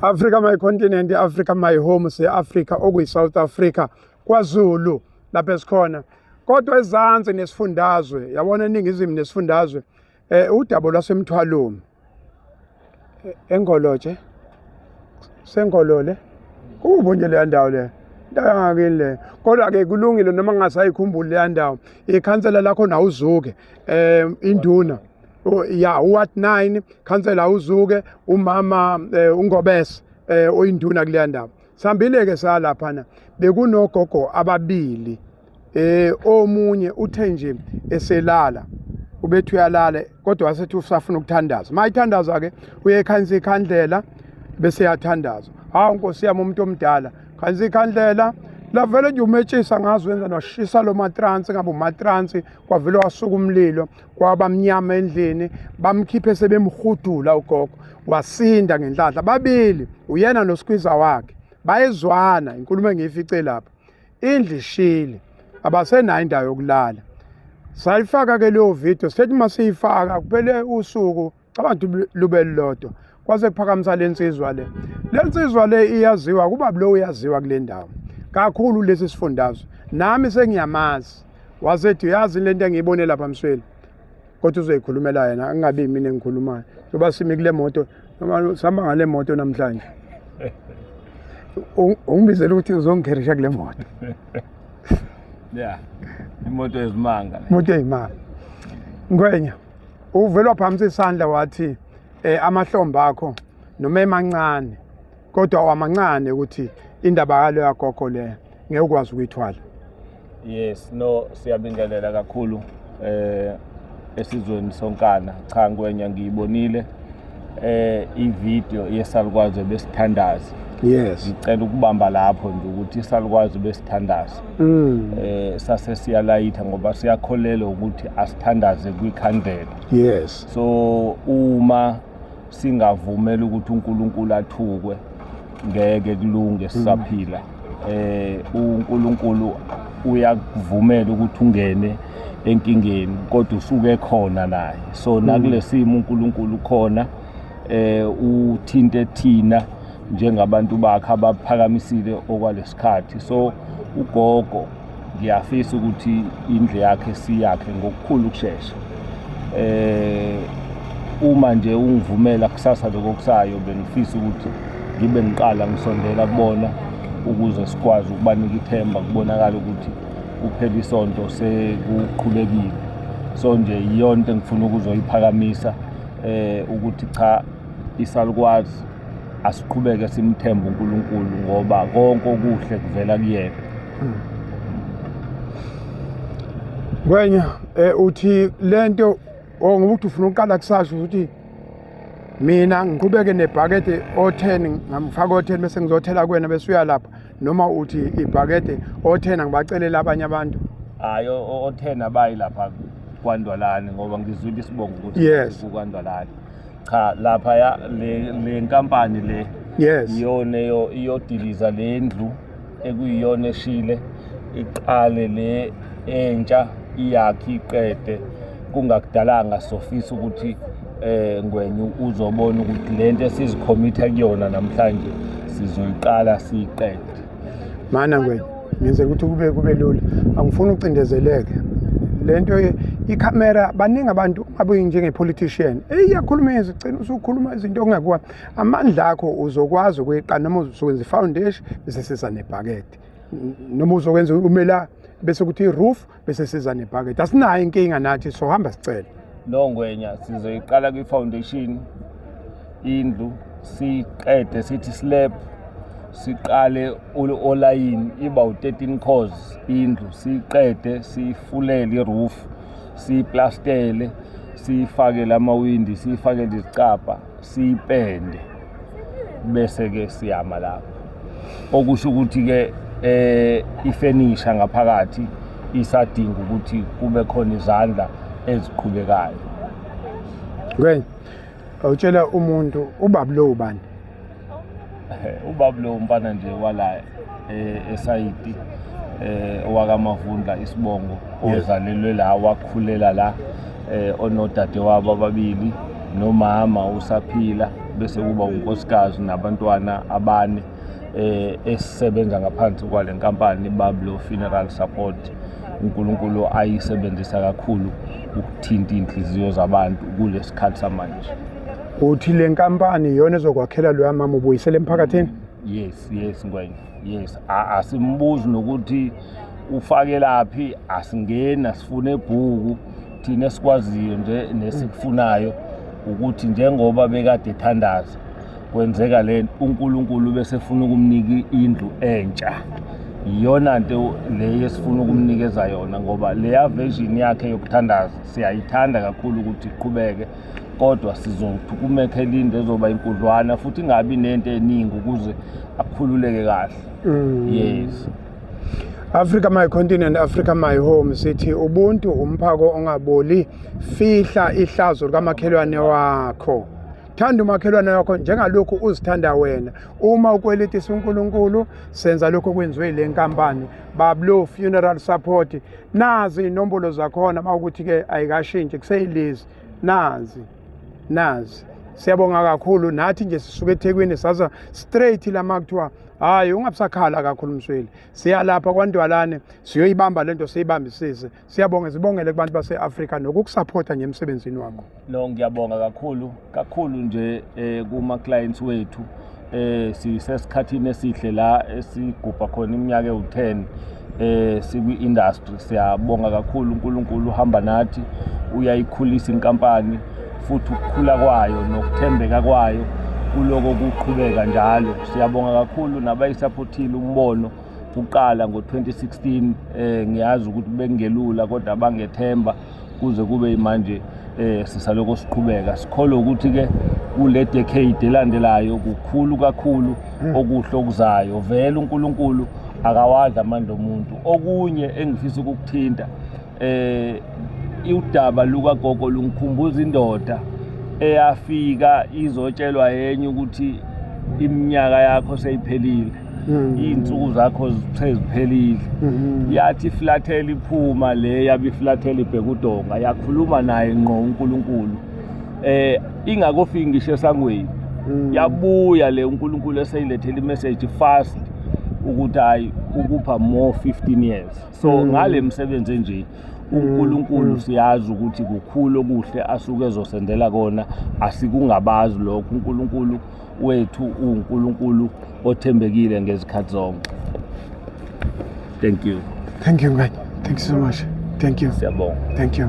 Africa my continent, Africa my home, se Africa okuyi South Africa, KwaZulu lapha esikhona. Kodwa ezansi nesifundazwe, yabona eningizimu nesifundazwe, eh udabo lwasemthwalumi. E, Engoloje. Sengolole. Kubo nje le ndawo le. Ndawo ngakini le. Kodwa ke kulungile noma ngasayikhumbuli le ndawo. Ikhansela lakho na uzuke. um induna ya uward 9 khansela uzuke umama eh, ungobese eh, oyinduna kuleya ndawo sihambile-ke salaphana bekunogogo ababili eh omunye uthe nje eselala ubethi uyalala kodwa wasethi usafuna ukuthandaza uma ithandaza ke uye ekhanyisa ikhandlela bese yathandaza hawu nkosi yami umuntu omdala khanyisa ikhandlela lavele nje umetshisa ngazi wenza noshisa lo matransi ngabe umatransi kwavele wasuka umlilo kwaba mnyama endlini bamkhiphe sebemhudula ugogo wasinda ngenhlanhla babili uyena noskwiza wakhe bayezwana inkulumo engiyifice lapha indlu ishile abasenayo indawo yokulala sayifaka ke leyo video sithethi uma siyifaka kuphele usuku cabanga ukuthi lube lilodwa kwase kuphakamisa le nsizwa le le nsizwa le iyaziwa kuba lo uyaziwa kule ndawo kakhulu lesi sifundazwe nami sengiyamazi wasethi uyazi le nto engiyibone lapha msweli kodwa uzoyikhulumela yena angabi mina engikhulumayo njengoba simi kule moto noma sihamba ngale moto namhlanje ungibizela ukuthi uzongikherisha kule moto ya imoto yezimanga imoto yezimanga ngwenya Uvele waphamisa isandla wathi eh amahlombe akho noma emancane kodwa wamancane ukuthi indaba yalo yagogo le ngeke ukwazi ukuyithwala. Yes, no siyabingelela kakhulu eh esizweni sonkana. Cha ngwenya ngiyibonile. eh ivideo yesalukwazi besithandaza yes ngicela ukubamba lapho nje ukuthi isalukwazi besithandaza mm. eh sase siyalayitha ngoba siyakholelwa ukuthi asithandaze kwikhandlela yes so uma singavumela ukuthi uNkulunkulu athukwe ngeke kulunge sisaphila eh uNkulunkulu uyakuvumela ukuthi ungene enkingeni kodwa usuke khona naye so mm. nakulesimo uNkulunkulu khona eh uthinte thina njengabantu bakhe abaphakamisile okwalesikhathi so ugogo ngiyafisa ukuthi indlu yakhe siyakhe ngokukhulu ukushesha eh uma nje ungivumela kusasa lokusayo bengifisa ukuthi ngibe ngiqala ngisondela kubona ukuze sikwazi ukubanika ithemba kubonakala ukuthi kuphela isonto sekuqhubekile so nje iyona into engifuna ukuzoyiphakamisa eh ukuthi cha isalukwazi asiqhubeke simthembe uNkulunkulu ngoba konke okuhle kuvela kuyena Kwenya eh uthi lento ongoba oh, uthi ufuna uqala kusasho ukuthi mina ngiqhubeke nebhakede o10 ngamfaka o10 bese ngizothela kuwena bese uyalapha noma uthi ibhakede othena ngibacelela abanye abantu hayi othena bayi lapha kwandwalani ngoba ngizwile isibongo ukuthi yes. kukwandwalani cha lapha ya le, le nkampani le yes iyona iyodiliza le ndlu ekuyiyona eshile iqale le entsha iyakhe iqede kungakudalanga sofisa ukuthi eh ngwenye uzobona ukuthi lento esizikhomitha kuyona namhlanje sizoyiqala siyiqede mana ngwenye ngenze ukuthi kube kube lula angifuni ucindezeleke lento ikhamera baningi abantu abuyi njenge-politician eyi yakhuluma yezi cina usukhuluma izinto okungekuwa amandla akho uzokwazi ukuyiqala noma uzokwenza i-foundation bese sisa nebhakede noma uzokwenza umela bese kuthi i-roof bese siza nebhakede asinayo inkinga nathi sohamba sicela no ngwenya sizoyiqala kwi-foundation indlu siqede sithi slab siqale olayini iba u-13 cos indlu siqede sifulele iroof siyiplastele siyifakele amawindi siyifakele izicabha siyipende bese ke siyama lapho okusho ukuthi ke eh ifenisha ngaphakathi isadinga ukuthi kube khona izandla eziqhubekayo Ngwen awutshela umuntu ubabulo ubani ubaba lo mfana nje wala eh, esayidi eh owakamavundla isibongo ozalelwe la wakhulela la eh onodade wabo ababili nomama usaphila bese kuba unkosikazi nabantwana abane eh esisebenza ngaphansi kwale nkampani Bablo Funeral Support uNkulunkulu ayisebenzisa kakhulu ukuthinta inhliziyo zabantu kulesikhathi samanje uthi le nkampani iyona ezokwakhela loya mama ubuyisele emphakathini yes yes ngwenya yes asimbuzi nokuthi ufakelaphi asingeni asifune ebhuku thina esikwaziyo nje nesikufunayo ukuthi njengoba bekade ethandaza kwenzeka le uNkulunkulu bese efuna ukumnika indlu entsha iyona nto le esifuna ukumnikeza yona ngoba leya version yakhe yokuthandaza siyayithanda kakhulu ukuthi iqhubeke kodwa sizothi kumekhe linde ezoba inkudlwana futhi ingabi nento eningi ukuze akhululeke kahle mm. yes Africa my continent Africa my home sithi ubuntu umphako ongaboli fihla ihlazo likamakhelwane wakho thanda umakhelwane wakho njengalokhu uzithanda wena uma ukweletisa uNkulunkulu senza lokho kwenziwe le nkampani bablo funeral support nazi inombolo zakhona uma ukuthi ke ayikashintshi kuseyilezi nazi nazi siyabonga kakhulu nathi nje sisuke ethekwini saza straight lama kuthiwa hhayi ungabusakhala kakhulu msweli siyalapha kwantwalane siyoyibamba le nto siyibambisise siyabonge sibongele kubantu base-afrika nokukusaphotha nje emsebenzini wakho no ngiyabonga kakhulu kakhulu nje um kuma-clients wethu eh sisesikhathini esihle la esigubha khona iminyaka ewu-10 eh sikwi-industry siyabonga kakhulu uNkulunkulu uhamba nathi uyayikhulisa inkampani futhi ukukhula kwayo nokuthembeka kwayo kuloko kuqhubeka njalo siyabonga kakhulu nabayisaphothile umbono kuqala ngo-2016 eh ngiyazi ukuthi bengelula kodwa bangethemba kuze kube imanje eh sisaloko siqhubeka sikholwe ukuthi ke kule decade elandelayo kukhulu kakhulu hmm. okuhle okuzayo vele uNkulunkulu akawadla amandla omuntu okunye engifisa ukukuthinta eh udaba luka gogo lungikhumbuza indoda eyafika izotshelwa yenye ukuthi iminyaka yakho seyiphelile Mm. iy'nsuku zakho seziphelile mm-hmm. yathi iflathela iphuma le yabe iflathela ibheka udonga yakhuluma naye ngqo unkulunkulu eh ingakofiki ngisho esangweni mm. yabuya le unkulunkulu eseyilethela imeseji fast ukuthi hayi ukupha more 15 years so mm. ngale msebenzi enje uNkulunkulu mm, mm. siyazi ukuthi kukhulu okuhle asuke ezosendela kona asikungabazi lokho uNkulunkulu wethu uNkulunkulu othembekile ngezikhathi zonke thank you thank you mngani thank you so much thank you siyabonga thank you